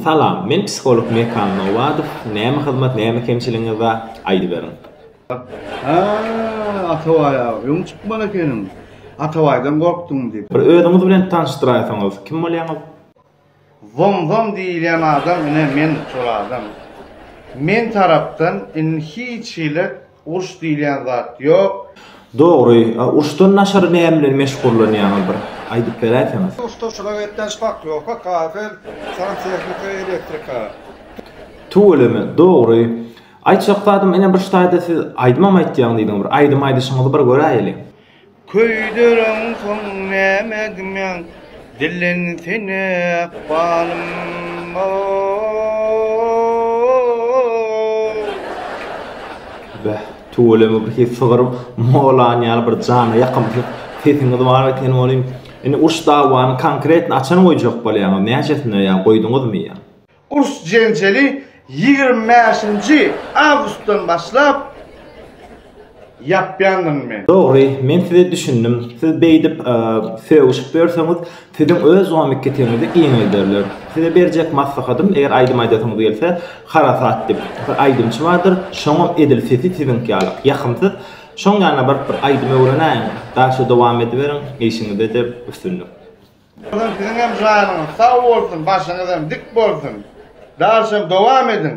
Salam, men psiholog Mekan Nowadow, näme hyzmat, näme kemçiligiňiz bar, aýdyberiň. Hä, Atabaý aga, öň çykman ekeniň. Atabaýdan gorkduň diýip. Bir özüňiz bilen tanyşdyraýsaňyz, kim bolýaňyz? Zom-zom diýilýän adam, ine men şol adam. Men tarapdan indi hiç hili. Urş diýilýän zat ýok. Dogry, a urşdan daşary näme bilen meşgullanýaňyz bir aýdyp beräýseňiz. Ustaçylyk etýän şpakliowka, kafel, santehnika, elektrika. Tüweleme, dogry. Aýtjak zadym ine bir ştaýda siz aýdymam aýtýaň diýdiň bir aýdym aýdyşyňyzy bir göräýeli. Köýdereňsoň näme diýmäň, dillensene ykbalym, o-o-o! Beh, tüweleme bir ses çygaryp, Molan ýaly bir jana ýakymsy sesiňiz bar eken welin, indi uruş-dawany konkretno açan goýjak bolýaňyz, näçesine ýa goýduňyzmy ýa? Urs-jenjeli ýigrimi bäşinji awgustdan başlap ýapýandyryn men. Dogry, men size düşündim. Siz beýdip, sögüşip ýörseňiz, siziň öz zomikketegiňizi giňelderler. Size berjek maslahatym, eger aýdym aýdasyňyz gelse, Harasat diýip, bir aýdymçy bardyr, şoňam edil sesi siziňki ýaly, ýakymsyz. Şoň ýanyna baryp bir aýdym öwrenäýiň, daşa dowam ediberiň, işiňizde-de üstünlik. Bugün siziň hem janyňyz sag bolsun başyňyz hem dik bolsun. Dalşam dowam ediň.